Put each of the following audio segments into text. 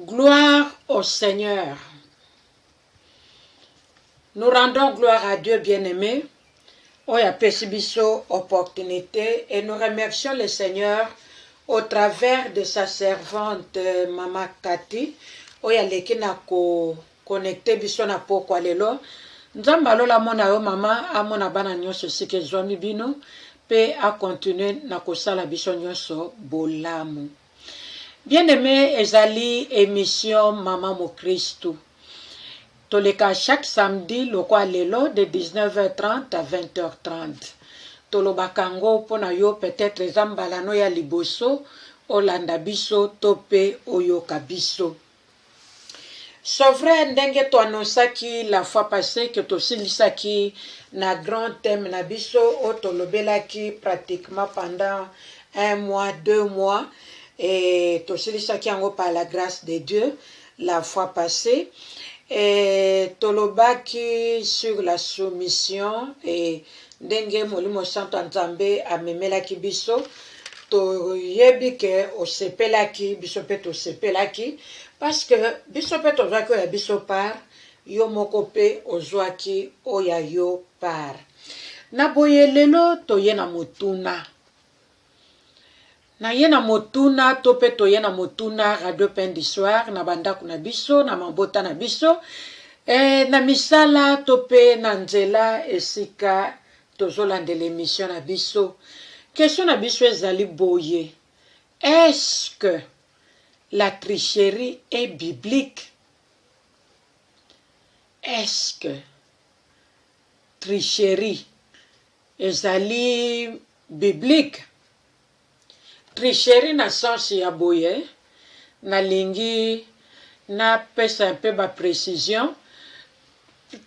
Gloire au Seigneur. Nous rendons gloire à Dieu bien-aimé, oyo apesi biso opportunité et nous remercions le Seigneur au travers de sa servante euh, Mama Cathy oyo aleki na ko connecte biso na pokwa lelo. Nzambe alola amona yo mama, amona bana nyonso esika ezwami bino mpe akontinue na kosala biso nyonso bolamu. Bien aime ezali emission maman mokristu toleka chaque samedi lokwa lelo de 19h30 à 20h30 tolobaka ngo mpo na yo peut-être eza mbala no ya liboso olanda biso to mpe oyoka biso. C'est vrai ndenge to annonçaki la fois passée que tosilisaki na grand thème na biso oyo tolobelaki pratiquement pendant un mois, deux mois et tosilisaki yango par la grâce de Dieu la fois passée et tolobaki sur la soumission et ndenge Molimo Santo ya Nzambe amemelaki biso toyebi ke osepelaki biso mpe tosepelaki parceke biso mpe tozwaki oyo ya biso par yo moko mpe ozwaki oyo ya yo par na boye lelo toye na motuna na ye na motuna to mpe toye na motuna radio pain du soir na bandako na biso na mabota na biso e, na misala to mpe na nzela esika Tozolandela emission na biso. Question na biso ezali boye, est-ce que la tricherie est biblique? Est-ce que tricherie ezali biblique? Tricherie na sens ya boye nalingi na pesa un peu ba precision.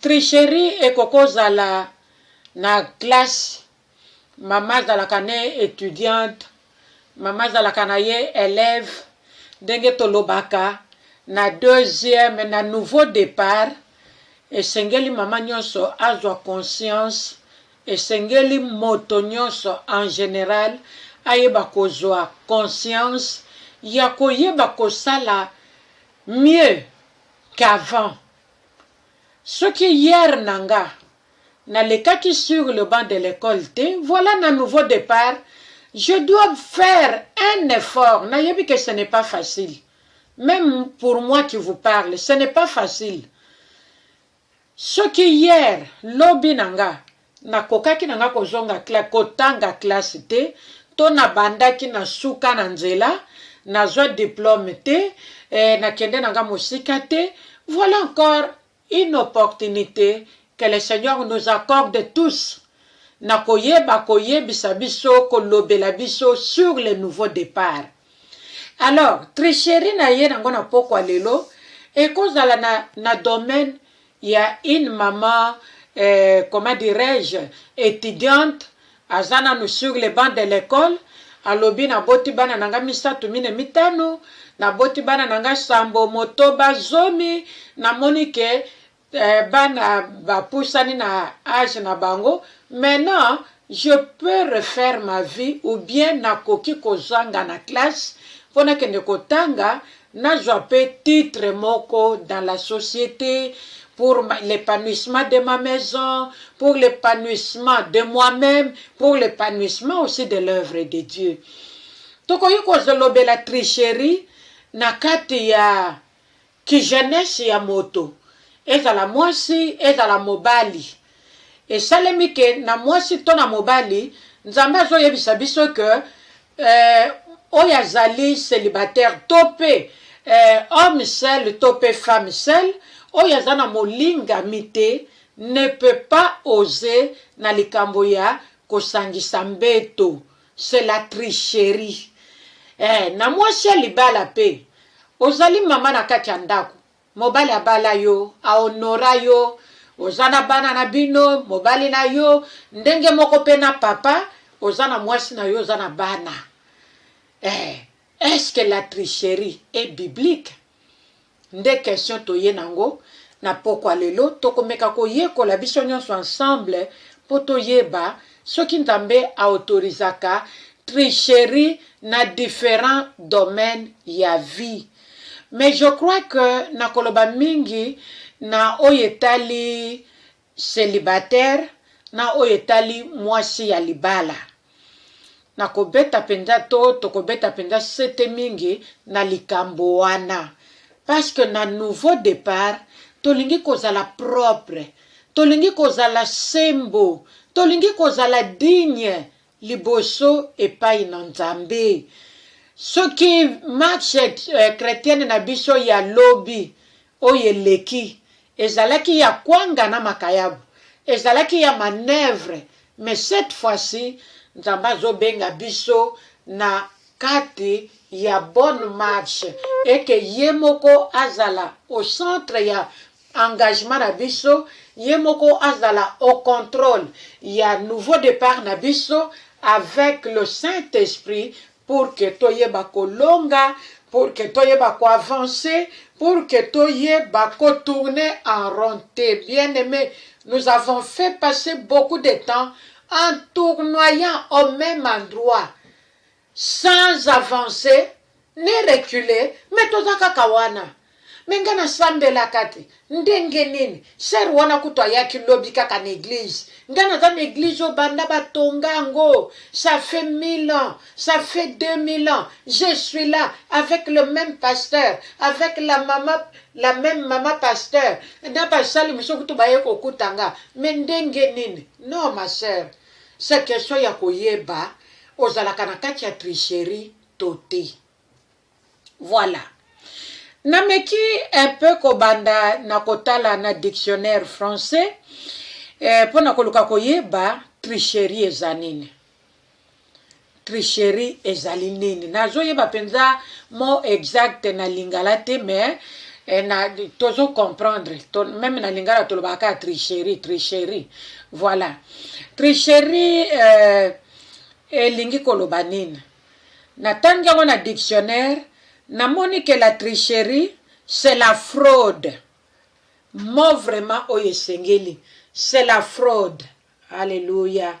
Tricherie ekoki kozala na classe, mama azalaka ne etudiante, mama azalaka na ye elève, ndenge tolobaka na deuxième, na nouveau depart, esengeli mama nionso azwa conscience Esengeli moto nyonso en general ayeba kozua conscience ya koyeba kosala mieux qu'avant. Soki hier na nga na lekaki sur le banc de l'ecole te, voila na nouveau depart je dois faire un effort, na yebi que ce n'est pas facile. Meme pour moi qui vous parle, ce n'est pas facile. Soki hier lobi na nga na kokaki na nga kozonga classe kotanga classe te to na bandaki na suka na nzela nazwa diplome te eh, na kende na nga mosika te voilà encore une opportunite que le Seigneur nous accorde tous na koyeba koyebisa biso kolobela biso sur le nouveau départ. Alors tricherie na ye nango na pokwa lelo ekozala na, na domaine ya une maman euh, comment dirais-je étudiante aza nanu sur le banc de l'école alobi naboti bana na nga misato mine mitano naboti bana na nga sambo motoba zomi namoni ke Eh, bana bapusani na age na bango maintenant je peux refaire ma vie ou bien nakoki kozanga na classe mpo nakende kotanga nazwa mpe titre moko dans la société pour l'épanouissement de ma maison pour l'épanouissement de moi-même pour l'épanouissement aussi de l'œuvre de dieu tokoki kozolobela tricherie na kati ya Ki jeunesse ya moto, ezala mwasi, ezala mobali, esalemi que na mwasi to na mobali, Nzambe azo yebisa biso que eh, oyo azali celibataire to pe eh, homme seul to pe femme seul, oyo aza na molingami te ne peut pas oser na likambo ya kosangisa mbeto c'est la tricherie eh, na mwasi ya libala pe ozali mama na kati ya ndako mobali abala yo ahonora yo oza na bana na bino mobali na yo ndenge moko mpe na papa oza na mwasi na yo oza na bana eh, est ce que la tricherie est biblique Nde question toye nango na pokwa lelo, toko meka ko yekola biso nionso ensemble po to yeba soki Nzambe a autorisaka tricherie na differents domaines ya vie. Mais je crois que na koloba mingi na oyo etali celibataire na oyo etali mwasi ya libala. Nakobeta mpenza to tokobeta mpenza sete mingi na likambo wana parce que na nouveau depart tolingi kozala propre, tolingi kozala sembo, tolingi kozala digne liboso epai na Nzambe. Soki match eh, chretienne na biso ya lobi oyo eleki ezalaki ya kwanga na makayabu, ezalaki ya manœuvre, mais cette fois-ci Nzambe azobenga biso na kati ya bonne marche et que ye moko azala au centre ya engagement na biso ye moko azala au controle ya nouveau depart na biso avec le saint esprit pour que toyeba kolonga pour que toyeba ko avancer pour que toyeba ko tourner en rond te bien aimé nous avons fait passer beaucoup de temps en tournoyant au même endroit sans avance ni recule mais toza kaka wana mais nga na sambelaka te ndenge nini sœur wana kutu ayaki lobi kaka na eglise nga naza na eglise oyo banda batonga yango ça fait 1000 ans ça fait 2000 ans je suis là avec le même pasteur avec la mama la même mama pasteur na basali mosusu kutu baye kokuta nga mais ndenge nini non ma sœur C'est question ya koyeba ozalaka na kati ya tricherie to te. Voilà. Nameki un peu kobanda na kotala na dictionnaire français eh, pona koluka koyeba tricherie eza nini. Tricherie ezali nini? Nazo yeba penza mot exact na lingala te mais eh, na tozo comprendre to, meme na lingala tolobaka kaka tricherie tricherie voilà tricherie euh, elingi koloba nini natangi yango na dictionnaire namoni ke la tricherie c'est la fraude mo vraiment oyo esengeli c'est la fraude alleluya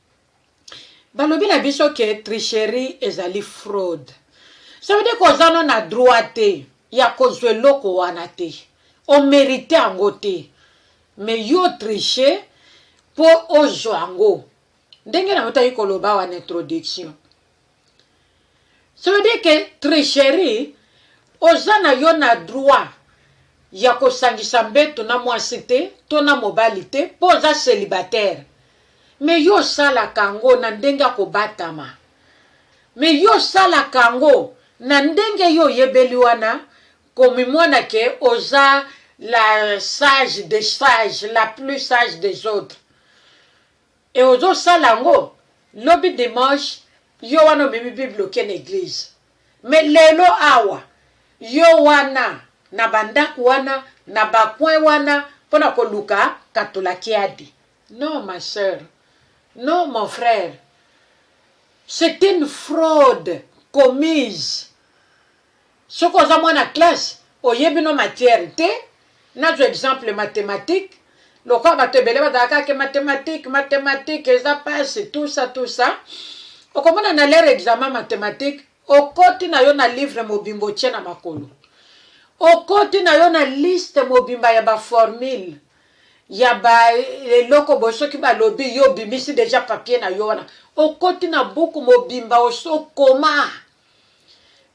balobi na biso ke tricherie ezali fraude ça veut dire que oza no na droit te ya kozwa eloko wana te omerite yango te mais yo triche mpo ozwa yango ndenge na yo tali koloba wana introduction Ça veut dire que tricherie, oza na yo na droit ya kosangisa mbeto na mwasi te to na mobali te mpo oza célibataire me yo osalaka yango na ndenge ya kobatama me yo osalaka yango na ndenge yo oyebeli wana komimona ke oza la sage des sages la plus sage des autres Et ozo sala yango lobi dimanche yo wana omemi bible oke na eglise mais lelo awa yo wana na ba ndaku wana na ba coin wana pona koluka katulakiadi non ma soeur non mon frère c'est une fraude commise Soki oza mwana classe oyebi no matière te nazwa exemple mathematique lokola bato ebele bazala kaka ke mathematique mathematique eza pasi tout ça tout ça okomona na lere examen mathematique okoti na yo na livre mobimba otie na makolo okoti na yo na liste mobimba ya baformule ya baeloko boye soki balobi yo obimisi deja papier na yo wana okoti na buku mobimba osokoma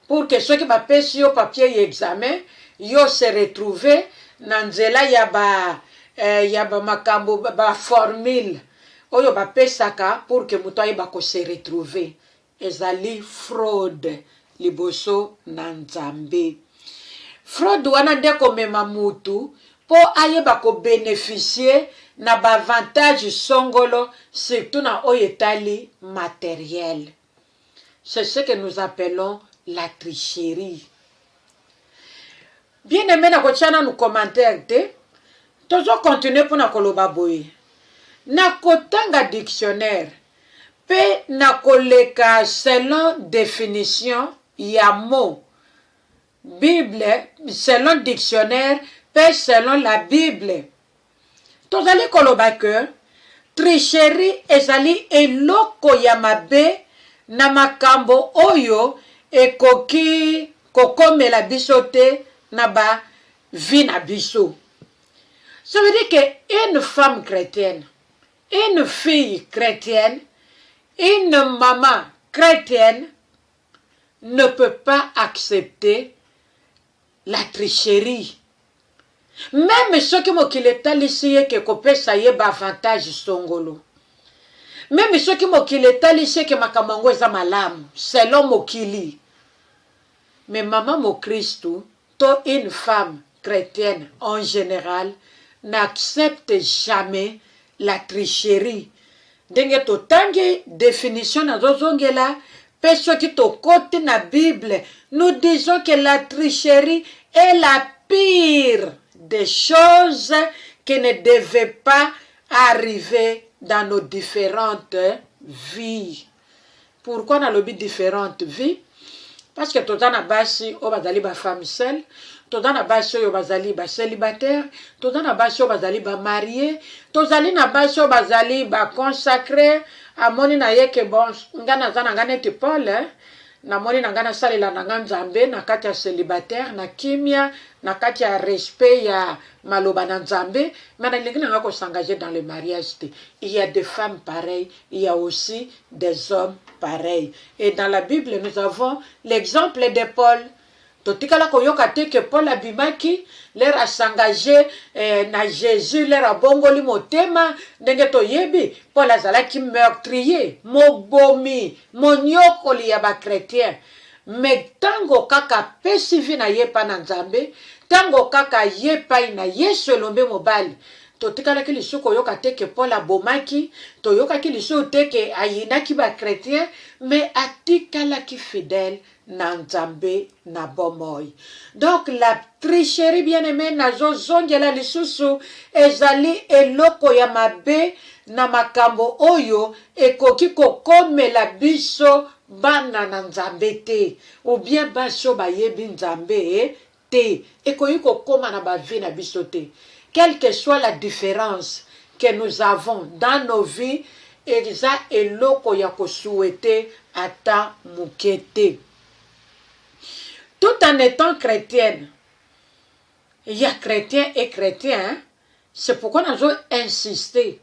pour que soki ba pesi yo papier ya examen yo se retrouver na nzela ya ba eh, ya ba makambo ba formule oyo ba pesaka pour que moto ayeba ko se retrouver ezali fraude liboso na Nzambe fraude wana nde komema mutu mpo ayeba ko beneficier na ba avantage songolo surtout na oyo etali materiel C'est ce que nous appelons la tricherie. Bien aimé na kotia nanu commentaire te tozo continuer mpo na koloba boye na kotanga dictionnaire mpe na koleka selon definition ya mot bible selon dictionnaire mpe selon la bible tozali koloba ke tricherie ezali eloko ya mabe na makambo oyo ekoki kokomela biso te na ba vie na biso ça veut dire que une femme chretienne une fille chretienne une maman chretienne ne peut pas accepter La tricherie meme soki mokili etalisi ye ke kopesa ye ba avantage songolo meme soki mokili etalisi ye ke makambo yango eza malamu selon mokili mais mama mokristu to une femme chretienne en general n'accepte jamais la tricherie Ndenge totangi definition nazo zongela pe soki tokoti na bible nous disons que la tricherie est la pire des choses que ne devait pas arriver dans nos differentes vies. Pourquoi nalobi differente vie? Parce que toza na basi oyo bazali ba femme seule, toza na basi oyo bazali ba celibataire, toza na basi oyo bazali ba marie, tozali na basi oyo bazali ba consacre. Amoni na ye ke bon, nga naza na nga neti Paul, eh? namoni na nga nasalela na nga Nzambe na kati ya celibataire na kimia, na kati ya respect ya maloba na Nzambe, mais nalingi na nga ko s'engager dans le mariage te. Il y a des femmes pareilles il ya aussi des hommes pareils et dans la bible nous avons l'exemple de Paul totikala koyoka te que Paul abimaki lere asangage eh, na Jésus lere abongoli motema ndenge toyebi Paul azalaki meurtrier mobomi moniokoli ya ba chrétiens me ntango kaka apesi vi na ye epai na nzambe ntango kaka ye epai na yesu elombe mobali Totikalaki lisusu koyoka te ke Paul abomaki, toyokaki lisusu te ke ayinaki ba chretiens, mais atikalaki fidèle na Nzambe na bomoi. Donc la tricherie bien aime nazo zongela lisusu ezali eloko ya mabe na makambo oyo ekoki kokomela biso bana na Nzambe te ou bien basi oyo bayebi Nzambe te ekoki kokoma na ba vie na biso te quelque soit la difference que nous avons dans nos vies eza eloko ya ko souhaiter ata muke te tout en etant chretienne il ya chretien et chretien hein? C'est pourquoi nazo insister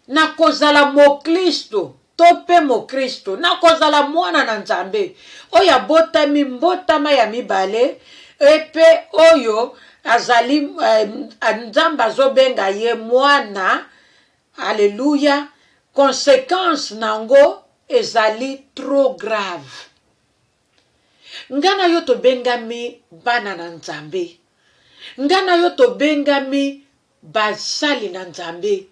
na kozala moklisto to mpe mokristo na kozala mwana na nzambe oyo abotami mbotama ya mibale mpe oyo azali eh, nzambe azobenga ye mwana aleluya konsekanse na yango ezali trop grave Nga na yo tobengami bana na Nzambe. Nga na yo tobengami basali na Nzambe.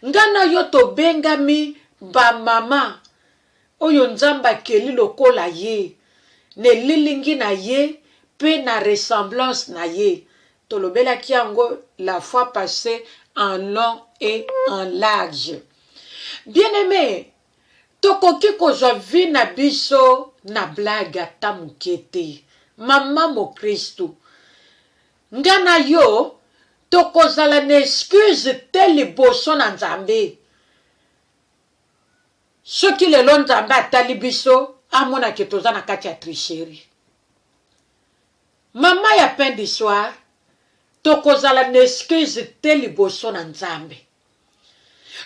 Nga na yo tobengami bamama oyo Nzambe akeli lokola ye, na elilingi na ye mpe na ressemblance na ye. Tolobelaki yango la fois passee en long et en large. Bien-aime, Tokoki kozwa vie na biso na blague ata muke te maman mokristu nga na yo tokozala na excuse te liboso na nzambe soki lelo nzambe atali biso amona ke toza na kati ya tricherie maman ya pain du soir tokozala na excuse te liboso na nzambe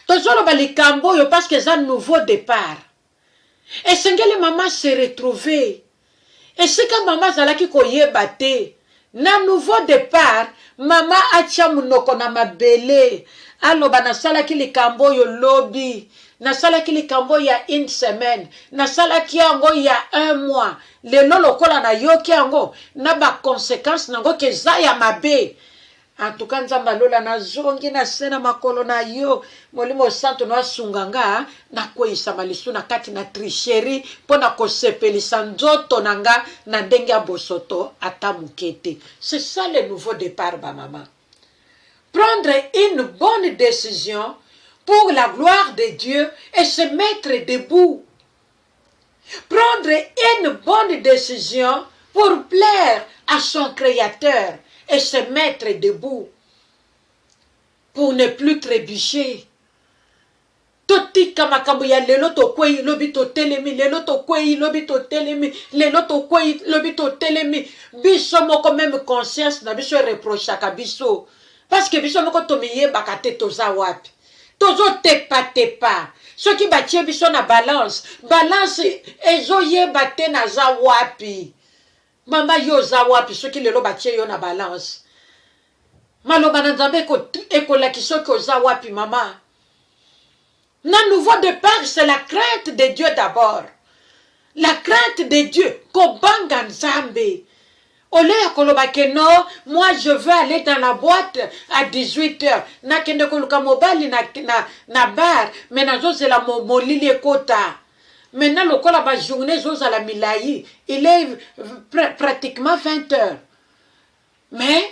tozoloba likambo oyo parce que eza nouveau départ esengeli mama se retrouver esika mama azalaki koyeba te na nouveau départ mama atya monoko na mabele aloba nasalaki likambo oyo lobi nasalaki likambo ya une semaine nasalaki yango ya un mois lelo lokola nayoki yango na baconsequence na yango keza ya mabe En tout cas nzambe ya lola nazongi na se na makolo na yo molimo santu no asunga nga nakweyisama lisu na kati na tricherie mpo na kosepelisa nzoto na nga na ndenge ya bosoto ata moke te c'est ça le nouveau départ ba mama prendre une bonne décision pour la gloire de Dieu et se mettre debout Prendre une bonne decision pour plaire à son créateur et se mettre debout pour ne plus trébucher. totika makambo ya lelo tokwei lobi totelemi lelo tokwei lobi totelemi lelo tokwei lobi totelemi biso moko meme conscience na biso ereprochaka biso parceke biso moko tomiyebaka te toza wapi tozotepa tepa soki batie biso na balance balance ezoyeba te naza wapi mama yo oza wapi soki lelo batie yo na balance maloba na nzambe ekolakisa oki oza wapi mama na nouveau depart c'est la crainte de dieu d'abord la crainte de dieu kobanga nzambe au lieu ya koloba ke no moi je veux aller dans la boîte à 18 heures nakende koluka mobali na, na, na bar me nazozela mo, molili ekota maintenant lokola bajourne ezozala milai il est pr pratiquement 20 heures mais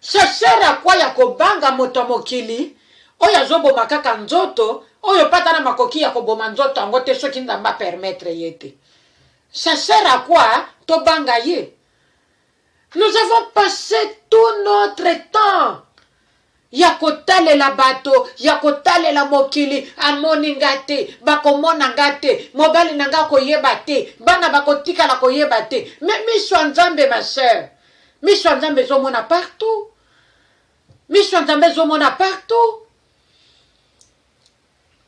Chercheur ya quoi ya kobanga moto ya mokili oyo azoboma kaka nzoto oyo pe ata na makoki ya koboma nzoto yango te soki nzambe a permettre ye te chercheur ya quoi tobanga ye nous avons passe tout notre temps ya kotalela bato, ya kotalela mokili, amoni nga te, bakomona nga te, mobali na nga akoyeba te, bana bakotikala koyeba te. Me miso ya Nzambe, ma sœur, miso ya Nzambe ezomona partout. Miso ya Nzambe ezomona partout.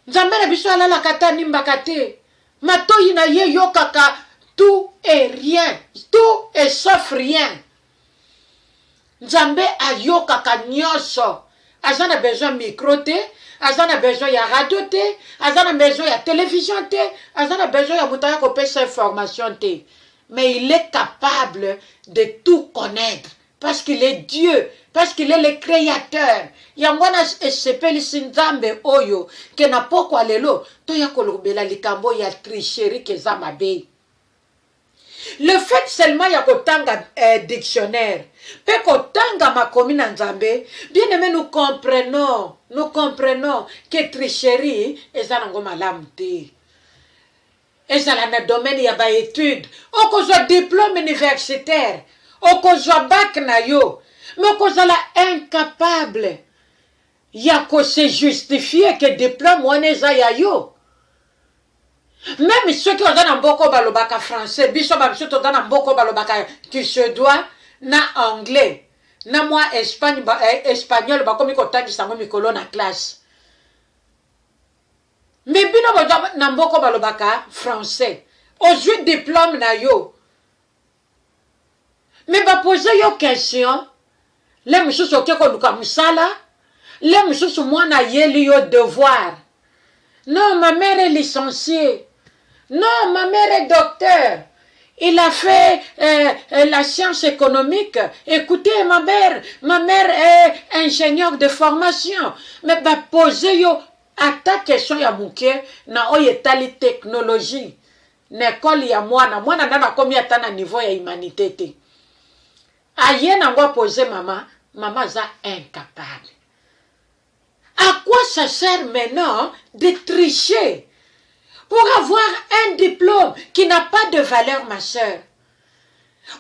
Nzambe na biso alalaka ata nimbaka te. Matoyi na ye yokaka tout et rien, tout et sauf rien. nzambe ayokaka nyonso aza na besoin micro te aza na besoin ya radio te aza na besoin ya television te aza na besoin ya moto aya kopesa information te mais il est capable de tout connaître parce qu'il est dieu parce qu'il est le créateur yango wana esepelisi nzambe oyo ke na pokwa lelo toya kolobela likambo ya tricherie keza mabe Le fait seulement ya kotanga eh, dictionnaire pe kotanga makomi na Nzambe, bien aime nous comprenons, nous comprenons que tricherie eza nango malamu te. Ezala na domaine ya ba études, okozwa diplôme universitaire, okozwa bac na yo, mais okozala incapable ya ko se justifier que diplôme wana eza ya yo. Meme soki oza na mboka oyo balobaka français, biso ba misusu toza na mboka oyo balobaka ki suedois na anglais na mwa Espagne, ba, eh, espagnol bakomi kotangisa yango mikolo na classe. Me bino boza na mboka oyo balobaka français, ozwi diplome na yo Mais ba poser yo question, le mususu oke koluka musala, le mususu mwana ayeli yo devoir. Non ma mère est licenciee, non ma mère est docteur, il a fait euh, euh, la science économique, ecoutez ma mère, ma mère est ingénieur de formation. Mais ba poser yo ata question ya muke na oyo etali technologie. na ecole ya mwana mwana nanu akomi ata na niveau ya humanite te aye nango apose mama mama aza incapable à quoi ça sert maintenant de tricher pour avoir un diplôme qui n'a pas de valeur ma soeur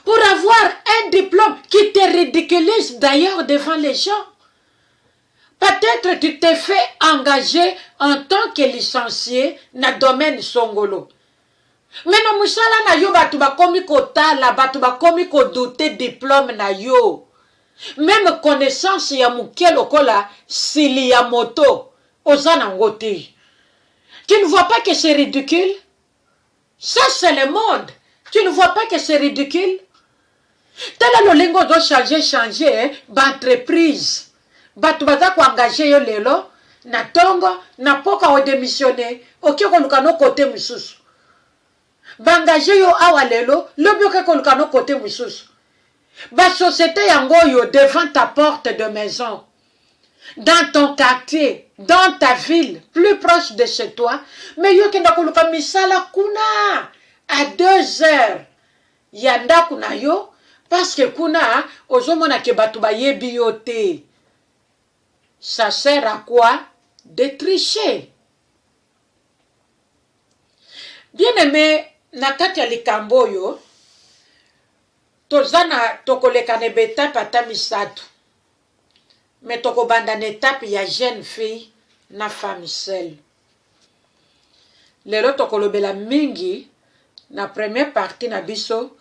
pour avoir un diplôme qui te ridiculise d'ailleurs devant les gens Peut etre tu t'es fait engager en tant que licencie na domaine songolo mais na musala na yo batu bakomi kotala batu bakomi ko douter diplome na yo meme connaissance ya mukie lokola sili ya moto oza na ngo te tu ne vois pas que c'est ridicule? Ça c'est le monde tu ne vois pas que c'est ridicule tala lolingo ozo changer changer eh, ba entreprise bato baza koengage yo lelo na tongo na poka odemissione oke koluka no kote mosusu baengage yo awa lelo lobi oke koluka no kote mosusu basociete yango oyo devant ta porte de maison dans ton quartier, dans ta ville, plus proche de chez toi, mais yo kenda koluka misala kuna à deux heures ya ndako na yo parce que kuna ozomona ke bato bayebi yo te ça sert à quoi de tricher bien aimé na kati ya likambo oyo toza na tokoleka na betape ata misato Mais toko banda na etape ya jeune fille na femme seule. Lelo toko lobela mingi na premier partie na biso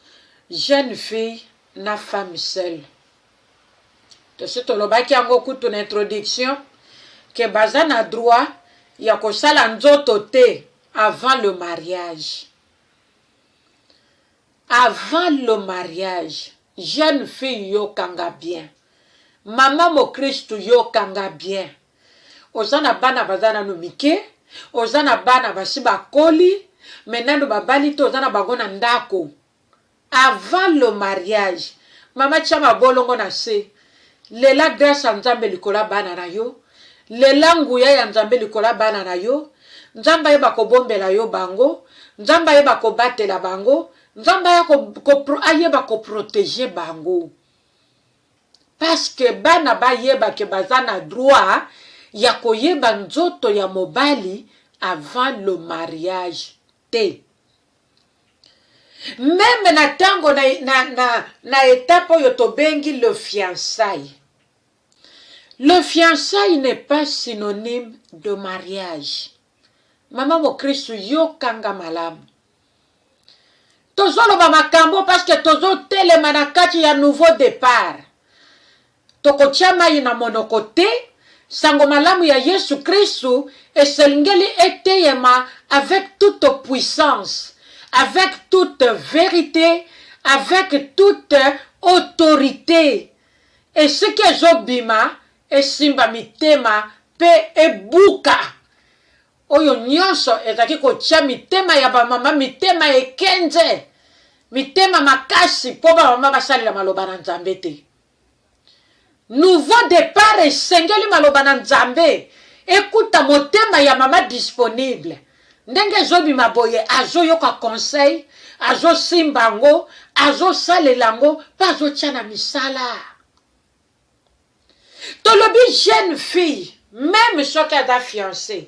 jeune fille na femme seule. Tosi tolobaki yango kutu na introduction que baza na droit ya kosala nzoto te avant le mariage. Avant le mariage jeune fille yo kanga bien maman mokristu yo kanga bien oza na bana baza nanu mike oza na bana basi bakoli mais nanu babali te oza na bango na ndaku avant le mariage maman tia mabolongo na se Lela grace ya nzambe likolo ya bana na yo lela nguya ya nzambe likolo ya bana na yo nzambe ayeba kobombela yo bango nzambe ayeba kobatela bango nzambe aya ko, ko, ayeba koprotege bango paske bana bayeba ke baza na droit ya koyeba nzoto ya mobali avant le mariage te meme na ntango na, na, na, na etape oyo tobengi le fiançai le fiançai n'est pas synonyme de mariage mama mokristu yokanga malamu tozoloba makambo parceke tozotelema na kati ya nouveau départ Tokotya mai na monoko te. Sango malamu ya Yesu Kristu eselngeli eteyema avec toute puissance, avec toute verite, avec toute autorite. Esika ezobima, esimba mitema pe ebuka oyo nyonso ezalaki kotya mitema ya bamama mitema ekenze, mitema makasi po bamama basalela maloba na Nzambe te. Nouveau depart esengeli maloba na nzambe ekuta motema ya mama disponible ndenge ezobima boye azoyoka conseil azosimba yango azosalela yango mpe azotia na misala tolobi jeune fille meme soki aza fiance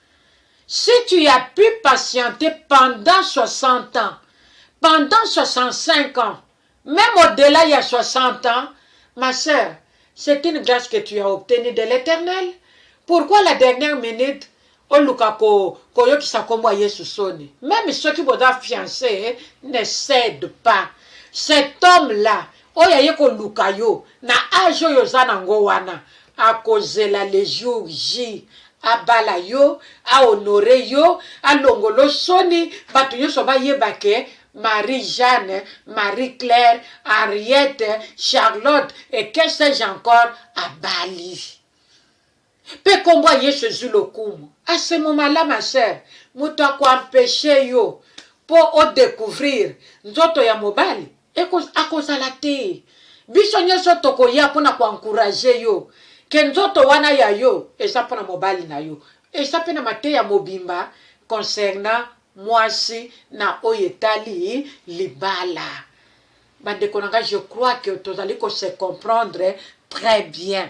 Si tu as pu patienter pendant 60 ans, pendant 65 ans, meme au dela ya 60 ans, ma sœur, c'est une grace que tu as obtenue de l'Eternel. Pourquoi la dernière minute oluka ko koyokisa kombo ya Yesu soni? Meme soki boza fiancé, ne cède pas. Cet homme là oyo aye koluka yo na age oyo oza nango wana, Akozela le jour J abala yo, a honore yo, alongolo soni, batu nionso bayeba ke Marie Jeanne, Marie Claire, Henriette, Charlotte et que sais-je encore abali. Pe kombo ya Yesu ezui lokumu. A ce moment là ma sœur, mutu ako empecher yo po o decouvrir nzoto ya mobali? Eko, akozala te. Biso nyoso tokoya mpo na ko encourager yo que nzoto wana ya yo eza mpo na mobali na yo. Eza mpe na mateya mobimba concernant mwasi na oyo etali libala. Bandeko na ngai, je crois que tozali ko se comprendre très bien.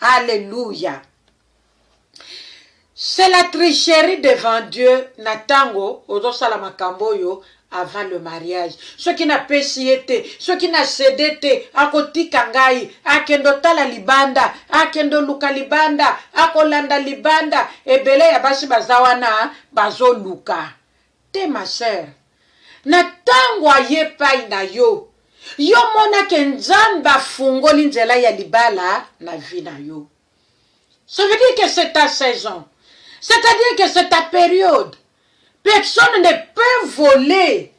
Alleluia c'est la tricherie devant Dieu na tango ozosala makambo oyo avant le mariage soki napesi ye te soki na cede te akotika ngai akende otala libanda akende oluka libanda akolanda libanda ebele ya basi baza wana bazoluka Te ma sœur, na tango aye epayi na yo, yo omona ke Nzambe afungoli nzela ya libala na vie na yo. Ça veut dire que c'est ta saison. C'est à dire que c'est ta periode. Personne ne peut voler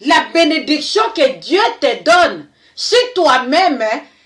la benediction que Dieu te donne si toi-même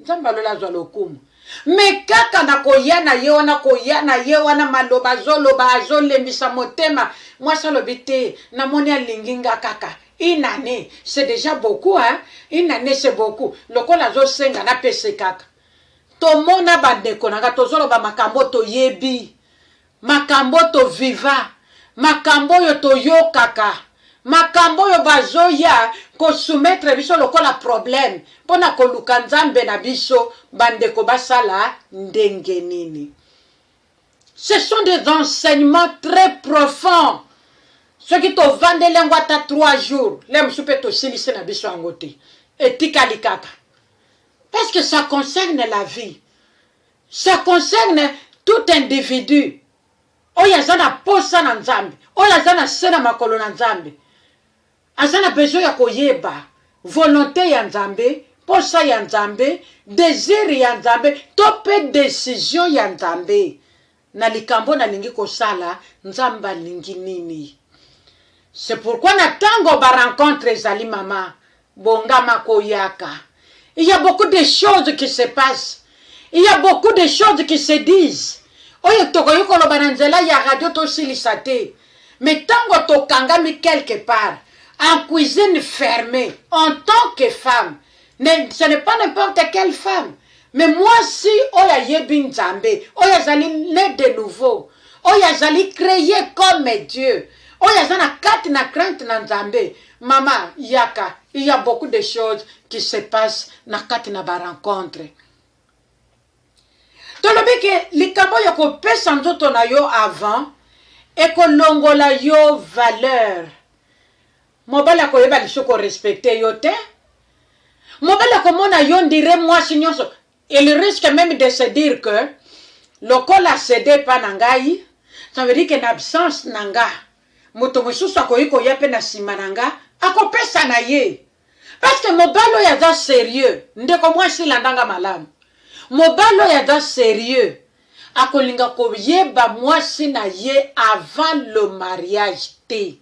nzambe ya lola azwa lokumu me kaka na koya na ye wana koya na ye wana maloba azoloba azolembisa motema mwasi alobi te namoni alingi nga kaka une année c'est déjà beaucoup hein? une année c'est beaucoup lokola azosenga napese kaka tomona bandeko na nga tozoloba makambo toyebi Makambo to viva, makambo oyo to yokaka, makambo oyo ba zo ya ko soumettre biso lokola problème mpo na ko luka Nzambe na biso, ba ndeko ba sala ndenge nini? Ce sont des enseignements très profonds, soki to vandeli yango ata trois jours, lelo mosusu mpe to silisi na biso yango te, etikali kaka. Parce que ça concerne la vie. Ça concerne tout individu oyo aza na posa na Nzambe, oyo aza na se na makolo na Nzambe. Aza na besoin ya koyeba volonte ya Nzambe, posa ya Nzambe, desir ya Nzambe, to pe decision ya Nzambe. Na likambo nalingi kosala, Nzambe alingi nini? C'est pourquoi na tango ba rencontres ezali mama, bongama koyaka. Il ya beaucoup de choses qui se passe. Il ya beaucoup de choses qui se disent. Oyo tokoki koloba na nzela ya radio tosilisa te. Mais tango tokangami quelque part, en cuisine fermee, en tant que femme, Ne, ce n'est pas n'importe quelle femme mais mwasi oyo ayebi nzambe oyo azali ne de nouveau oyo azali creye comme dieu oyo aza na kati na crainte na nzambe mama yaka il y a beaucoup de choses qui se passe na kati na barencontre tolobi ke likambo ya kopesa nzoto na yo avant ekolongola yo valeur Mobali akoyeba lisusu ko respecter yo te. Mobali akomona yo on dirait mwasi nyonso. Il risque meme de se dire que lokola a cede epa na ngai, ça veut dire que na absence na nga, moto mosusu akoki koya mpe na nsima na nga akopesa na ye. Parce que mobali oyo aza serieux, ndeko mwasi landa nga malamu. Mobali oyo aza serieux, akolinga koyeba mwasi na ye avant le mariage te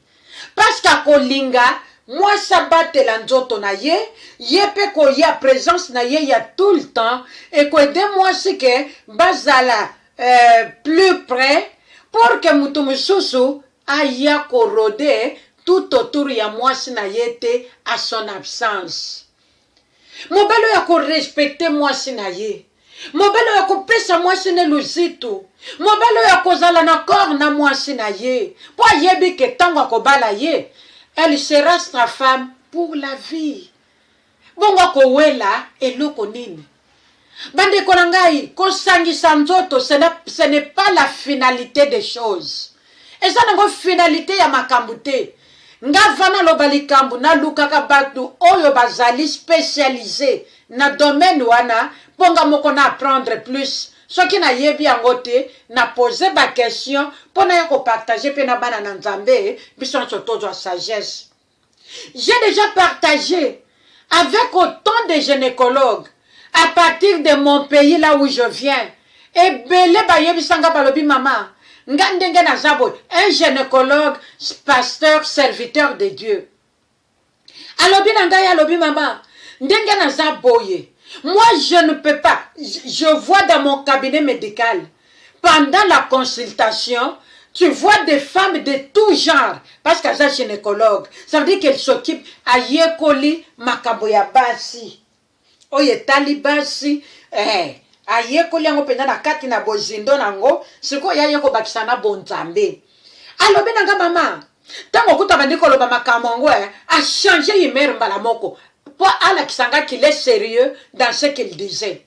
parceque akolinga mwasi abatela nzoto na ye ye pe koya presence na ye ya tout le temps ekoaide mwasi ke bazala euh, plus près pour que moto mosusu aya korode tout autour ya mwasi na ye te à son absence mobali oyo akorespecte mwasi na ye mobali oyo akopesa mwasi ne luzitu mobali oyo akozala na corps na mwasi na ye mpo ayebi ke ntango akobala ye elle sera sa femme pour la vie bongo akowela eloko nini Bandeko na ngai, kosangisa nzoto ce n'est pas la finalité des choses. Eza nango finalité ya makambo te. Nga vana loba likambo nalukaka bato oyo bazali specialise na domaine wana mpo nga moko na apprendre plus soki nayebi yango te na pose ba question mpo naya kopartage mpe na bana na nzambe biso nyonso tozwa sagesse J'ai déjà partagé avec autant de gynécologues à partir de mon pays là où je viens. Ebele bayebisa nga balobi mama nga ndenge naza boye un gynécologue pasteur serviteur de Dieu alobi na ngai alobi mama ndenge naza boye moi je ne peux pas je vois dans mon cabinet médical Pendant la consultation, tu vois des femmes de tout genre parce que aza gynecologue, ça veut dire qu'elle s'occupe, ayekoli makambo ya basi oyo etali basi eh, ayekoli yango mpenza na kati na bozindo na yango, sikoyo ye aye kobakisa na bonzambe. Alobi na nga mama, ntango okuta bandi koloba makambo yango eh, achange humeur mbala moko mpo alakisa nga qu'il est serieux dans ce qu'il disait.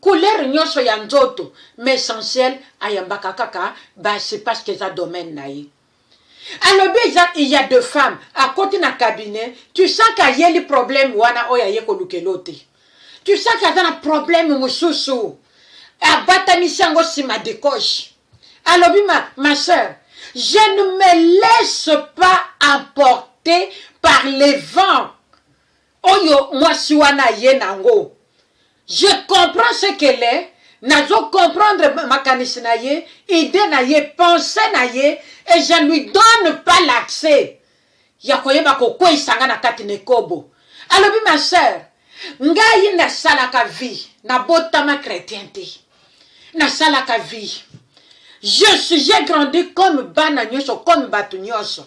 couleur nionso ya nzoto mais essentiel ayambaka kaka basi parce que eza domaine na ye alobi eza il y a de femmes akoti na cabinet tu sens que ayeli problème wana oyo aye kolukela yo te tu sens que aza na problème mosusu abatamisi yango nsima de coche alobi ma, ma sœur je ne me laisse pas emporter par les vents Oyo mwasi wana aye na ngo je comprends ce qu'elle est nazo comprendre makanisi na ye idee na ye pensee na ye et je lui donne pas l'accès ya koyeba kokweyisa nga na kati na ekobo alobi ma sœur ngai nasalaka vie nabotama chretien te nasalaka vie je suis j'ai grandi comme bana nyonso comme bato nyonso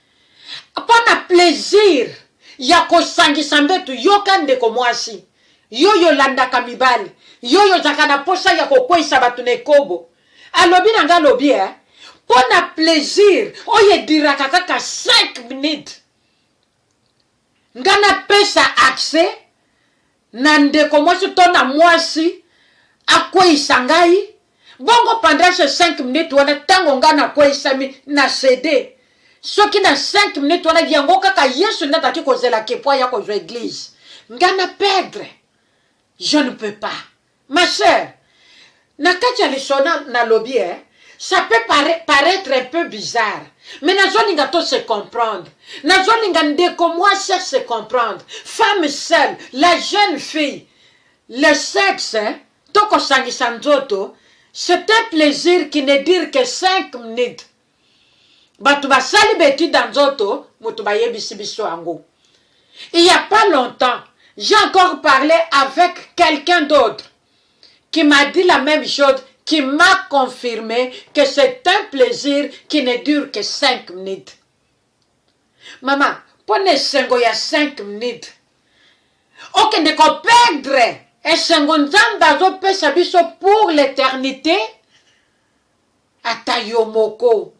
Pona plaisir ya kosangisa mbetu yoka ndeko mwasi yoyo olandaka mibali yoyo ozalaka na posa ya kokweyisa bato na ekobo alobi na nga alobi eh, mpo na plaisir oyo ediraka kaka 5 minutes nga napesa accès na ndeko mwasi to na mwasi akweyisa ngai bongo pendant ce 5 minutes wana ntango ngai nakweyisami na cede soki na 5 minutes wana yango kaka yesu nde azalaki kozela ke mpo aya kozwa eglise ngai na perdre je ne peux pas Ma sœur, na kati ya lisona nalobi eh, ça peut pare, paraitre un peu bizarre mais nazolinga to se comprendre nazolinga ndeko mwasi a se comprendre femme seule la jeune fille le sexe to kosangisa nzoto c'est un plaisir qui ne dire que 5 minutes bato basali betide ya nzoto moto bayebisi biso yango il y a pas longtemps j'ai encore parlé avec quelqu'un d'autre qui m'a dit la même chose qui m'a confirmé que c'est un plaisir qui ne dure que 5 minutes mama mpo na esengo ya 5 minutes okende koperdre esengo nzambe azopesa biso pour l'éternité Ata yo moko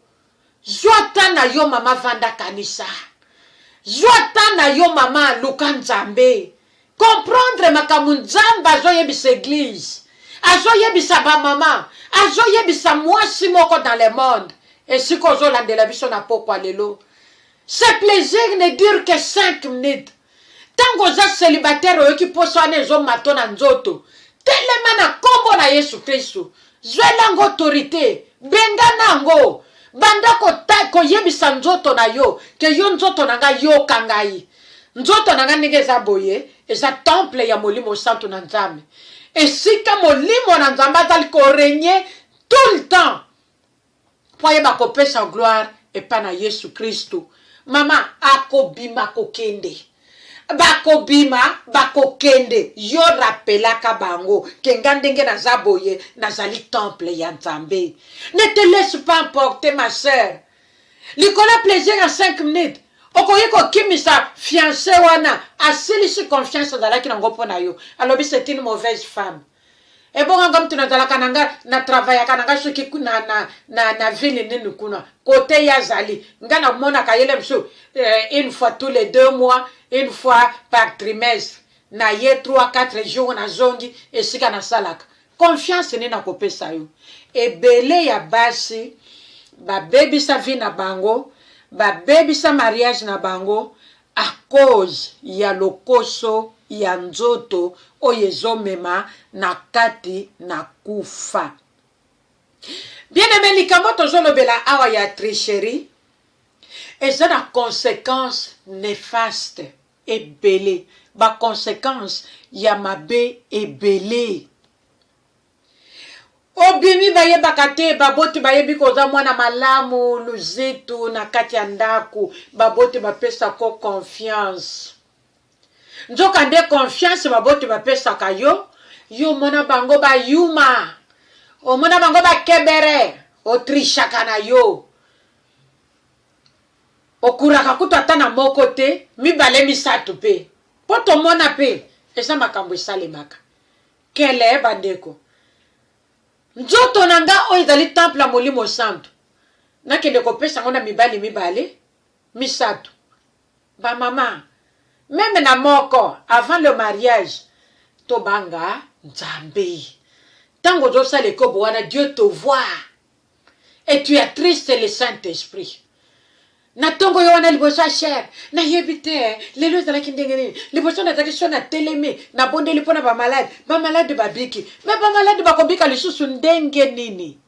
zua temps na yo maman vanda kanisa zua temps na yo maman luka nzambe comprendre makambo nzambe azo yebisa eglise azo yebisa ba maman azo yebisa mwasi moko dans le monde esika ozo landela biso na pokwa lelo ce plaisir ne dure que 5 minutes Tango oza celibataire oyoki posa wana ezo mato na nzoto telema na kombo na yesu kristu zwela yango autorite bengana yango banda koyebisa ko nzoto na yo ke yo nzoto na nga yoka ngai nzoto na nga ndenge eza boye eza temple ya molimo santu na nzambe esika molimo na nzambe azali korenye tout le temps po ayeba kopesa gloire epa na yesu kristu maman akobima kokende bakobima bakokende yo rapelaka bango ke nga ndenge naza boye nazali temple ya nzambe ne te laisse pas emporter ma sœur likolo ya plaisir ya 5 minutes okoki kokimisa fiance wana asilisi confiance azalaki nango mpo na yo alobi c'est une mauvaise femme ebonga nga mutu nazalaka na nga na travaillaka na nga soki na, na, na, na ville nini kuna kote ye azali nga namonaka yele mosusu eh, une fois tous les deux mois une fois par trimestre na ye 3 4 jours nazongi esika nasalaka confiance nini nakopesa yo ebele ya basi babebisa vie na bango babebisa mariage na bango à cause ya lokoso ya nzoto oyo ezo mema na kati na kufa. Bien aime likambo tozo lobela awa ya tricherie eza na consequence nefaste ebele ba consequence ya mabe ebele. Obimi bayebaka te baboti bayebi koza mwana malamu luzitu na kati ya ndako baboti bapesa ko confiance nzoka nde confiance baboti bapesaka yo yo omona bango bayuma omona bango bakebere otrishaka na yo okuraka kutu ata na moko te mibale misato mpe mpo tomona mpe eza makambo esalemaka Nkelee bandeko, nzoto na ngai oyo ezali temple ya Molimo Santu, nakende kopesa yango na mibali mibale, misato, ba mama, meme na moko, avant le mariage, tobanga Nzambe. Tango ozosala ekobo wana, Dieu te voit. et tu as triste le saint esprit na tongo yo wana liboso ya cher nayebi te lelo ezalaki ndenge nini liboso nazalaki so natelemi nabondeli mpo na bamalade bamalade babiki me bamalade bakobika lisusu ndenge nini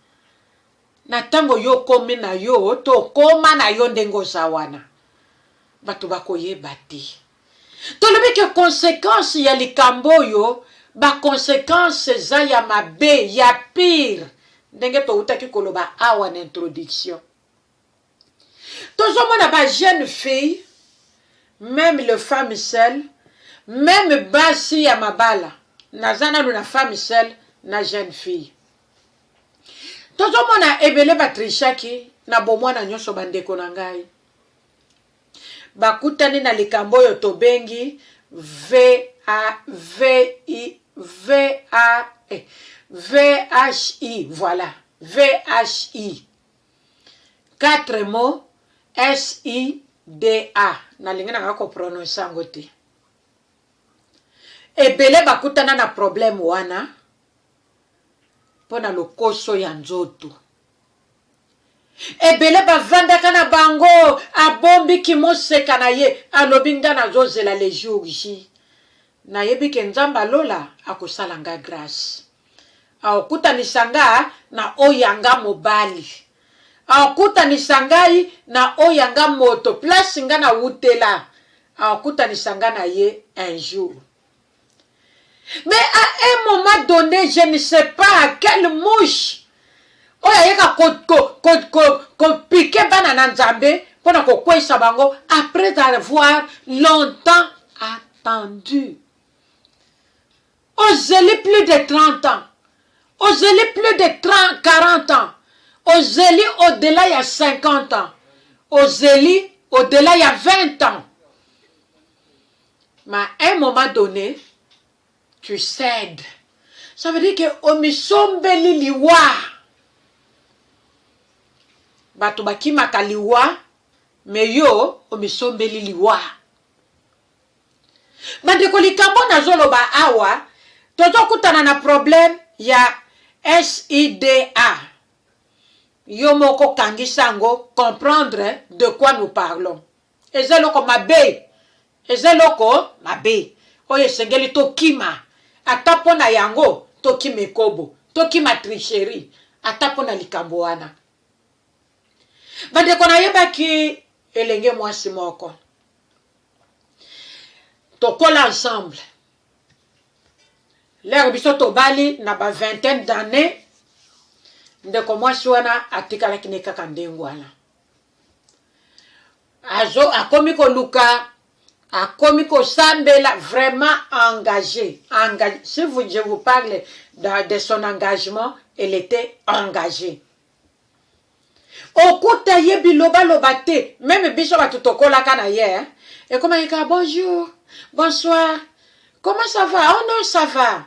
na ntango yo okomi na yo tokoma na yo ndenge oza wana bato bakoyeba te Tolobi ke consequence ya likambo oyo, ba consequences eza ya mabe, ya pire, ndenge towutaki koloba awa na introduction. Tozomona ba jeunes filles, meme les femmes seules, meme basi ya mabala, naza nanu na femme seule na jeune fille, tozomona ebele ba trichaki na bomwana nionso bandeko na ngai. bakutani na likambo oyo tobengi VHI, voila, VHI, quatre mots SIDA, nalingi nanga ko prononcer yango te. Ebele bakutana na problème wana mpo na lokoso ya nzoto. Ebele bavandaka na bango abombi kimoseka na ye alobi nga nazozela le jour J nayebi ke nzambe ya lola akosala nga grace akokutanisa nga na oyo ya nga mobali akokutanisa ngai na oyo ya nga moto place nga na wutela akokutanisa nga na ye un jour Mais à un moment donné, je ne sais pas quelle mouche oyo ayeka kopike bana na nzambe mpo na kokweisa bango après avoir longtemps attendu ozeli plus de 30 ans ozeli plus de 30, 40 ans ozeli au-delà ya 50 ans ozeli au-delà ya 20 ans ma un moment donne tu cède ça veut dire que omisombeli liwa bato bakimaka liwa me yo omisombeli liwa bandeko likambo nazoloba awa tozokutana na problème ya sida yo moko kangisa yango comprendre de quoi nous parlons eza eloko mabe eza eloko mabe oyo esengeli tokima ata mpo na yango tokima ekobo tokima tricherie ata mpo na likambo wana bandeko nayebaki elenge mwasi moko tokola ensemble lere biso tobali na ba vingtaine d'année ndeko mwasi wana atikalaki ne kaka ndenge wana azo akomi koluka akomi kosambela vraiment engage engage si vous je vous parle de, de son engagement elle était engagée okuta ye bilobaloba te meme biso bato tokolaka na ye ekomaki kaka bonjour bonsoir comment ça va oh non ça va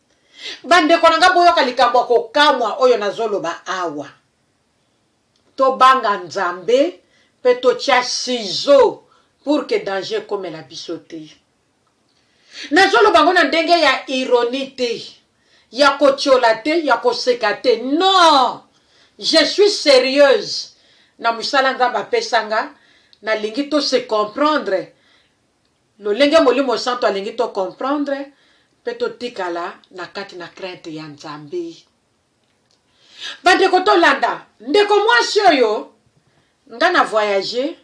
Bandeko na ngai, boyoka likambo ya kokamwa oyo nazoloba awa. Tobanga Nzambe mpe totya sizo pour que danger ekomela biso te. Nazoloba yango na ndenge ya ironie te, ya kotyola te, ya koseka te. Non! Je suis serieuse na mosala Nzambe apesa nga, nalingi to se comprendre Lolenge Molimo Santu alingi to comprendre mpe totikala na kati na crainte ya Nzambe. Bandeko tolanda ndeko mwasi oyo, nga na voyage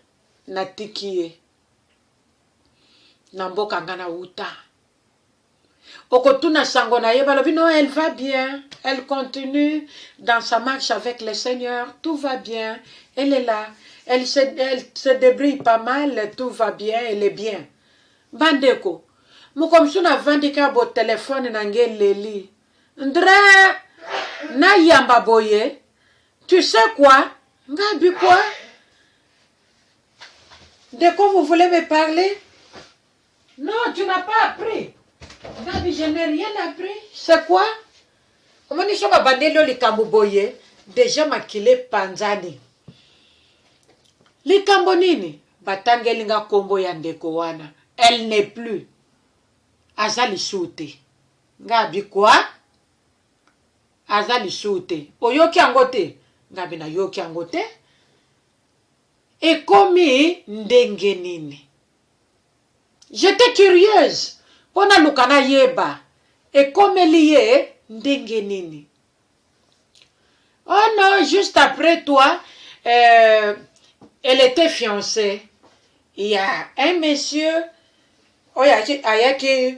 natiki ye na mboka nga nawuta. okotuna sango na ye balobi non elle va bien elle continue dans sa marche avec le seigneur tout va bien elle est là elle se, elle se débrouille pas mal tout va bien elle est bien bandeko moko mosusu navandi ka bo telefone na nge leli ndre nayamba boye tu sais quoi nga bi quoi de quoi vous voulez me parler Non, tu n'as pas appris. Gabi, je n'ai rien appris. C'est quoi? Omoni soki babandeli yo likambo boye, deja makila epanzani. Likambo nini? Batangeli nga kombo ya ndeko wana. Elle n'est plus. Aza lisusu te. Ngabi quoi? Aza lisusu te. Oyoki yango te? Ngabi nayoki yango te. Ekomi ndenge nini? J'étais curieuse mpo naluka nayeba ekomeli ye ndenge nini. Oh non, juste après toi, euh, elle était fiancée. Il y a un monsieur oyo ayaki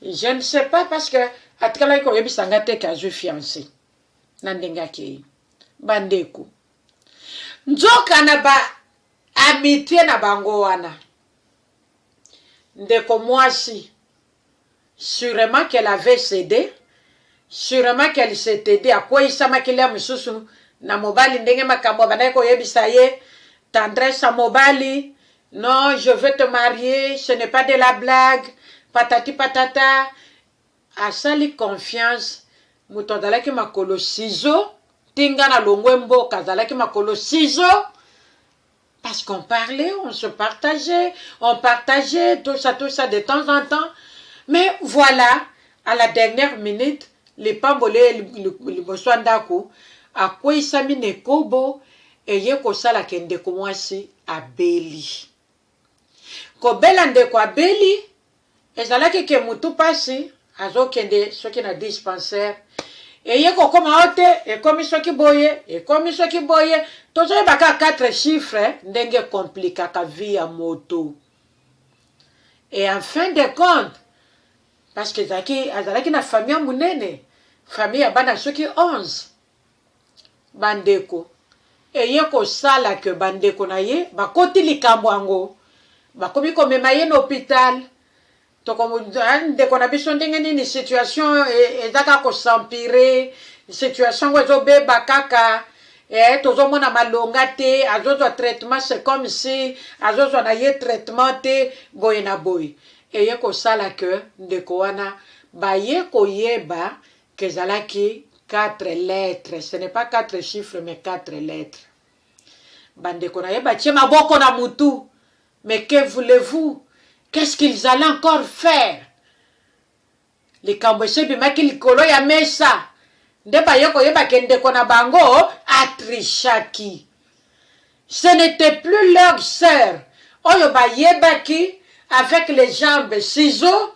Je ne sais pas parce que atikalaki koyebisa nga te ke azwi fiance na ndenge akei. Bandeko, nzoka na ba amitie na bango wana, ndeko mwasi surement qu'elle avait cede, surement qu'elle s'était dit akweisamaki lia mosusu na mobali ndenge makambo abandaki koyebisa ye tendresse ya mobali Non je veux te marier ce n'est pas de la blague patati patata asali confiance mutu azalaki makolo ciseaux ti nga na longwe mboka azalaki makolo ciseaux parce qu'on parlait on se partageait on partageait tout ça tout ça de temps en temps mais voilà à la dernière minute lipambo le liboso ya ndako akweisami na ekobo Eye kosala ke ndeko mwasi abeli. Kobela ndeko abeli ezalaki ke mutu pasi azokende soki na dispensaire eye kokoma oh te ekomi soki boye ekomi soki boye tozoyeba kaka quatre chiffres ndenge ekomplikaka vie ya moto et en fin de compte parce que ezalaki azalaki na famille ya monene famille ya bana soki 11 bandeko eye kosala que bandeko na ye bakoti likambo yango bakomi komema ye na hopital toko eh, ndeko na biso ndenge nini situation e, eza kaka kosampire situation yango ezobeba kaka eh, tozomona malonga te azozwa traitement c'est comme si azozwa na ye traitement te boye na boye eye kosala que ndeko wana baye koyeba Ezalaki quatre lettres, ce n'est pas quatre chiffres mais quatre lettres. Bandeko na ye batie maboko na mutu, mais que voulez-vous? Qu'est-ce qu'ils allaient encore faire? Likambo esi ebimaki likolo ya mesa, nde baye koyeba ke ndeko na bango atrichaki. Ce n'etait plus leur soeur oyo ba yebaki avec les jambes ciseaux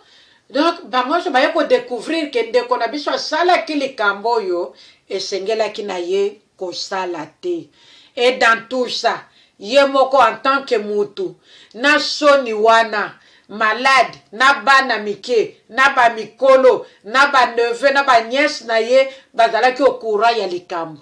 donc bango nionso baye ko decouvrir que ndeko na biso asalaki likambo oyo esengelaki na ye kosala te et dans tout ça ye moko en tant que mutu na soni wana malade na bana mike na ba mikolo na ba neveux na ba nièces na ye bazalaki au courant ya likambo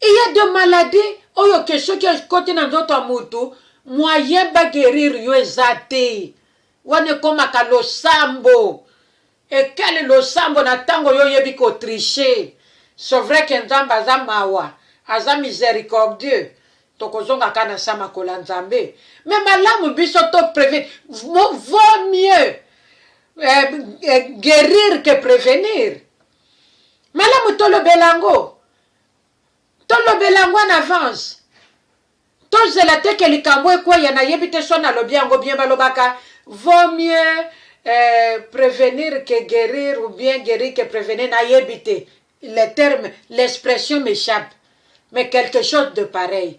Il ya de maladie oyo ke soki ekoti na nzoto ya mutu moyen ba guerir yo eza te wana ekomaka losambo ekali losambo na tango yo oyebi ko triche ce vrai ke nzambe aza mawa aza misericordieux tokozonga ka na sa makolo ya nzambe mais malamu biso to previne vaut mieux eh, eh, guerir ke prevenir malamu tolobela yango tolobela yango en avance tozela te ke likambo ekweya nayebi te so nalobi yango bien balobaka vaut mieux eh, prevenir que guérir ou bien guérir que prevenir nayebi te le terme l'expression m'échappe mais quelque chose de pareil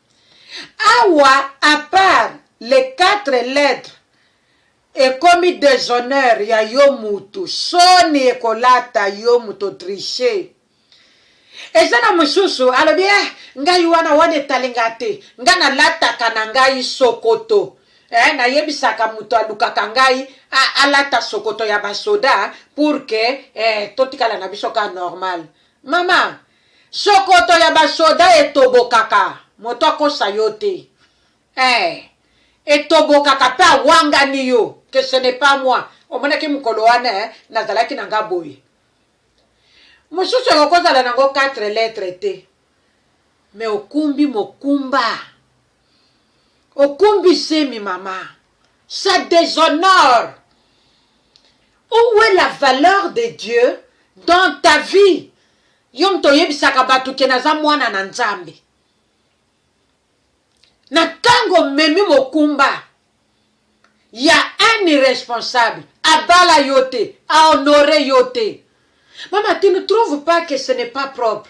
Awa à part les quatre lettres ekomi deshonneur ya yo mutu soni ekolata yo mutu o triche eza na mususu alobi eh ngai wana wana etali nga te nga na lataka na ngai sokoto eh na yebisaka mutu alukaka ngai a alata sokoto ya ba soda pour que eh totikala na biso ka normal maman Shokoto ya ba soda etobokaka moto akosa yo te eh etobokaka pe awangani yo que ce n'est pas moi omonaki mokolo wana eh nazalaki na nga boye mosusu ekoki kozala nango 4 lettre te mais okumbi mokumba Okumbi zemi mama. Ça deshonore. Où est la valeur de Dieu dans ta vie? Yo moto oyebisaka bato ke naza mwana na Nzambe. Na tango omemi mokumba ya un irresponsable, abala yo te, a honore yo te. Mama, tu ne trouves pas que ce n'est pas propre?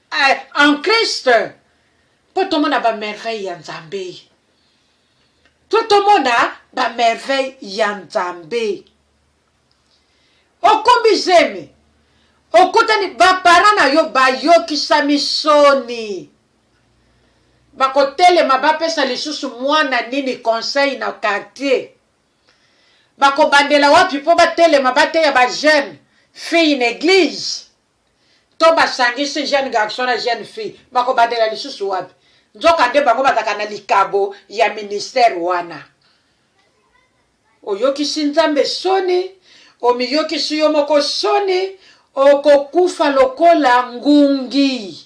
Eh, en Christ mpo tomona bamerveille ya Nzambe, mpo tomona bamerveille ya Nzambe. Okombi zemi, okutani bapara na yo bayokisami soni, bakotelema bapesa lisusu mwana nini conseil na quartier bakobandela wapi mpo batelema bateya ba jeune fille na eglise to basangisi jeune garçon na jeune fille bakobandela lisusu wapi nzoka nde bango bazalaka na likabo ya ministère wana oyokisi nzambe soni omiyokisi yo moko soni okokufa lokola ngungi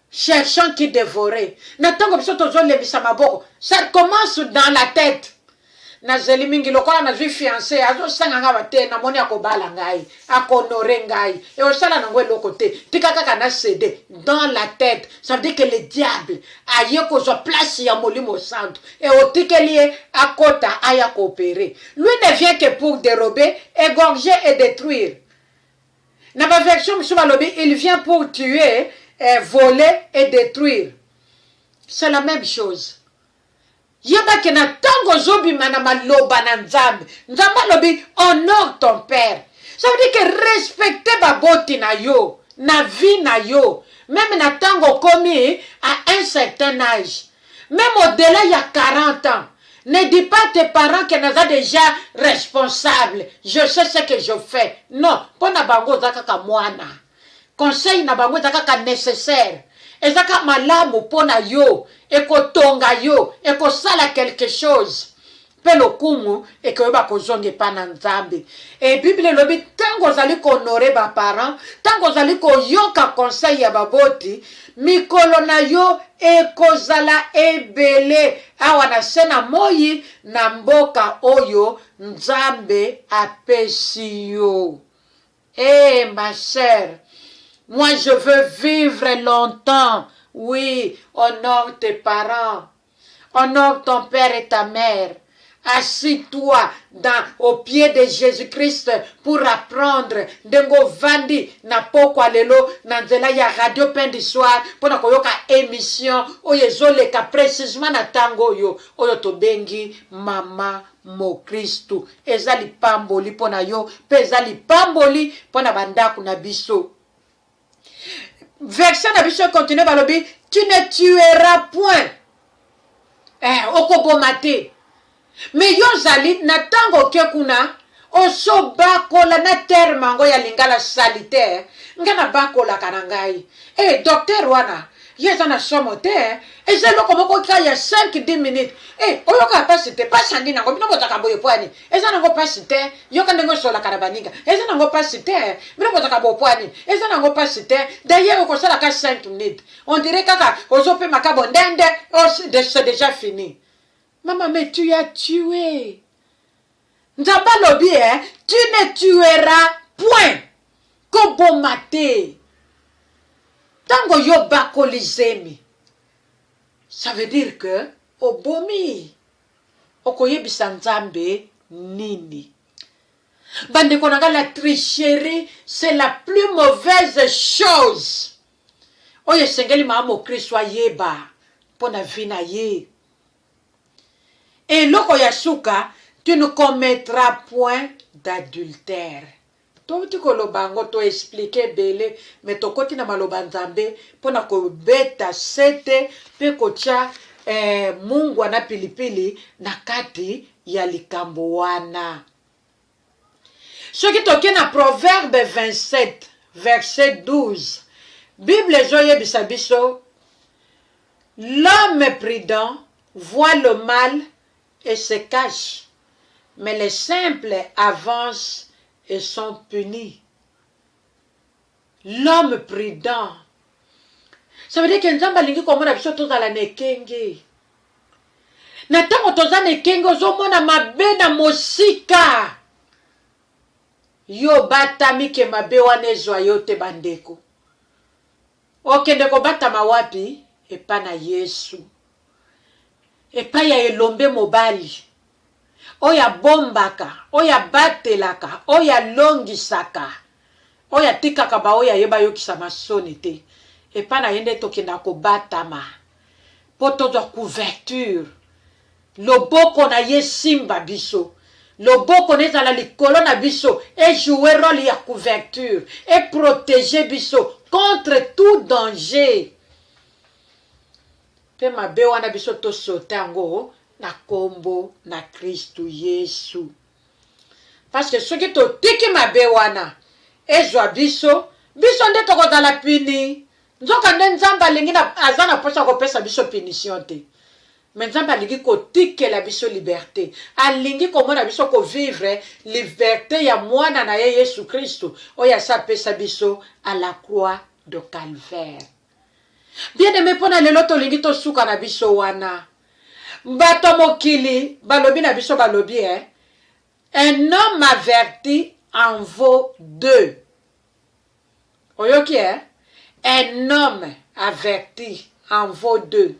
Cherchant qui devorer na tango biso tozo lembisa maboko ça commence dans la tete na zeli mingi lokola na zui fiance azo sanga nga ba te na moni ako bala ngai ako honore ngai et osala nango eloko te tika kaka na cede dans la tete ça veut dire que le diable aye kozwa place ya molimo santu et otikeli ye akota aya ko opere lui ne vient que pour derober egorger et detruire Na ba version mosusu balobi il vient pour tuer, voler et detruire. C'est la meme chose. Yeba ke na tango ozobima na maloba na Nzambe, Nzambe alobi honore ton père. Ça veut dire que respecter baboti na yo na vie na yo meme na tango okomi à un certain age. Meme au-delà ya 40 ans, ne dis pas à tes parents que naza dejà responsable, je sais ce que je fais. Non, mpo na bango oza kaka mwana. Conseil na bango eza kaka necessaire. Eza kaka malamu mpo na yo, ekotonga yo, ekosala quelque chose. mpe lokumu ekoyeba kozonga epai na Nzambe. E Biblia elobi ntango ozali kohonore ba parents, ntango ozali koyoka conseil ya baboti, mikolo na yo ekozala ebele awa na se na moi na mboka oyo Nzambe apesi yo. Ee eh, ma sœur, moi je veux vivre longtemps, oui, honore tes parents. Honore ton père et ta mère assis toi dans au pied de Jesus Christ pour apprendre ndenge ovandi na pokwa lelo na nzela ya radio pain du soir mpo na koyoka emission oyo ezoleka precisement na ntango oyo oyo tobengi mama mokristu eza lipamboli mpo na yo mpe eza lipamboli mpo na bandako na biso version na biso econtinue balobi tu ne tueras point eh, okoboma te me yo ozali na ntango oke kuna ozobakola na terme yango ya lingala saliter ngai nabakolaka na ngai e eh, docteur wana ye eza na somo te eh. eza eloko moko ka ya 5 10 minutes e eh, oyokaka mpasi te mpasi andi nango bino bozaka boye pwani eza nango pasi te yoka ndenge osolaka na baninga eza nango pasi te bino bozaka bopwa nini eza nango pasi te dayer okosala ka 5 minute on dirait kaka ozopema ka bondende oh, c'est déjà fini mama mais tu as tué nzambe alobi eh, tu ne tueras point koboma te ntango yo bakoli zemi ça veut dire que obomi okoyebisa nzambe nini bandeko na ngai la tricherie c'est la plus mauvaise chose oyo esengeli maa mokristo ayeba mpo na vi na ye eloko ya suka tu ne commettra point d'adultère Touti koloba yango, to expliquer ebele mais tokoti na maloba ya Nzambe pona kobeta sete pe kotia eh, mungwa na pilipili na kati ya likambo wana. Soki toke na Proverbe 27 verset 12, Bible ezoyebisa biso, L'homme prudent voit le mal et se cache mais les simple avance et sont punis l'homme prudent ça veut dire que nzambe alingi komona biso tozala na ekenge na ntango toza na ekenge ozomona mabe na mosika yo obatami ke mabe wana ezwa yo te bandeko Okende kobatama wapi? Epai na Yesu, epai ya elombe mobali oyo abombaka, oyo abatelaka, oyo alongisaka, oyo atikaka baoyo ya ye bayokisama soni te. Epai na ye nde tokendaka kobatama mpo tozwa couverture Loboko na ye esimba biso. Loboko na ye ezala likolo na biso, e jouer role ya couverture, e proteger biso contre tout danger. Pe mabe wana biso to sauter yango na kombo na Kristu Yesu. Parce que soki totiki mabe wana ezwa biso, biso nde tokozala puni. Nzokande Nzambe alingi na, aza na posa ya kopesa biso punition te. Mais Nzambe alingi ko tikela biso liberte. Alingi ko mona biso ko vivre liberte ya mwana na ye Yesu Kristu oyo asi apesa biso à la croix de calvaire. Bien aime pona lelo tolingi tosuka na biso wana. Bato ya mokili balobi na biso balobi eh, un homme averti en vaut deux. Oyoki eh? Un homme averti en vaut deux.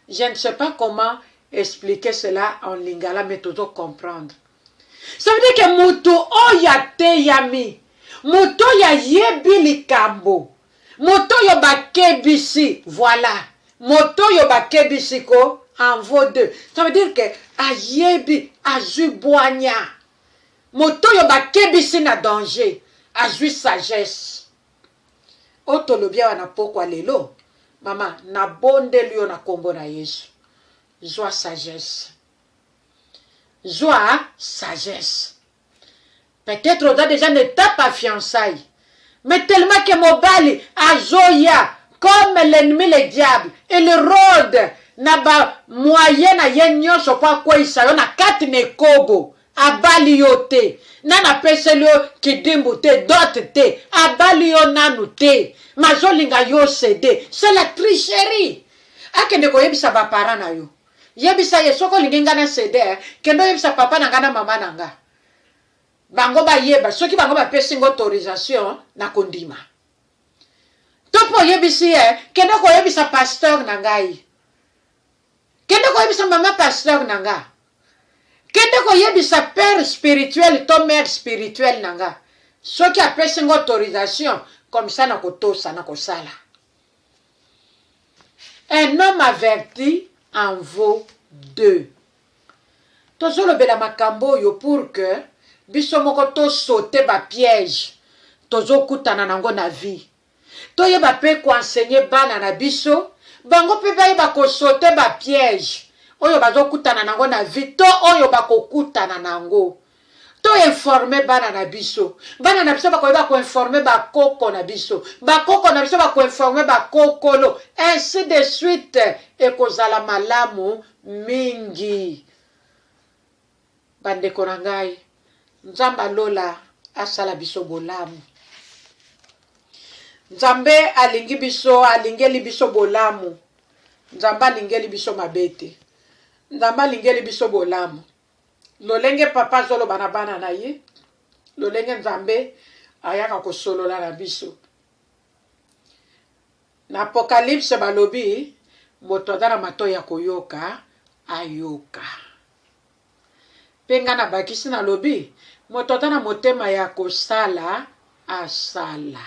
Je ne sais pas comment expliquer cela en lingala mais tozo comprendre. Ça veut dire que moto oyo ateyami, moto oyo ayebi likambo, moto oyo bakebisi, voilà. Moto oyo bakebisi ko en vaut deux. Ça veut dire que ayebi, azwi bwanya. Mot'oyo bakebisi na danger azwi sagesse. Oyo tolobi awa na pokwa lelo, mama, nabondeli yo na kombo na Yesu, zwa sagesse. Zwa sagesse. Peut-etre oza dejà na etape ya fiançailles. Mais tellement que mobali azoya comme l'ennemi le diable, il rode na ba moyen na ye nionso po akweyisa yo na kati na ekobo. Abali yo te, nanu apeseli yo kidimbu te, dot te, abali yo nanu te, mais azolinga yo ceder. C'est la tricherie! Akende koyebisa ba parents na yo. Yebisa ye soki olingi nga na ceder, kende oyebisa papa na nga na mama na nga. Bango bayeba soki bango bapesi nga autorisation na kondima to mpe oyebisi ye kende koyebisa pasteur na ngai kende koyebisa mama pasteur na nga kende koyebisa père spirituel to mère spirituel na nga soki apesi nga autorisation comme ça na kotosa na kosala un homme averti en vaut deux Tozolobela makambo oyo pour que biso moko to sauter ba piège tozokutana nango na vie. Toyeba pe ko enseigner bana na biso bango pe bayeba ko sauter ba piège oyo bazokutana nango na vie to oyo bakokutana nango To informer bana na biso. Bana na biso ba koyeba ko informer ba koko na biso. Ba koko na biso ba ko informer ba kokolo. Ainsi de suite. Ekozala malamu mingi. Ba ndeko na ngai. Nzambe ya lola asala biso bolamu. Nzambe alingi biso, alingeli biso bolamu. Nzambe alingeli biso mabe te. Nzambe alingeli biso bolamu. Lolenge papa azoloba na bana na ye, lolenge Nzambe ayaka kosolola na biso. Na Apocalypse balobi moto aza na matoi ya koyoka ayoka. Mpe ngai nabakisi nalobi moto aza na motema ya kosala asala.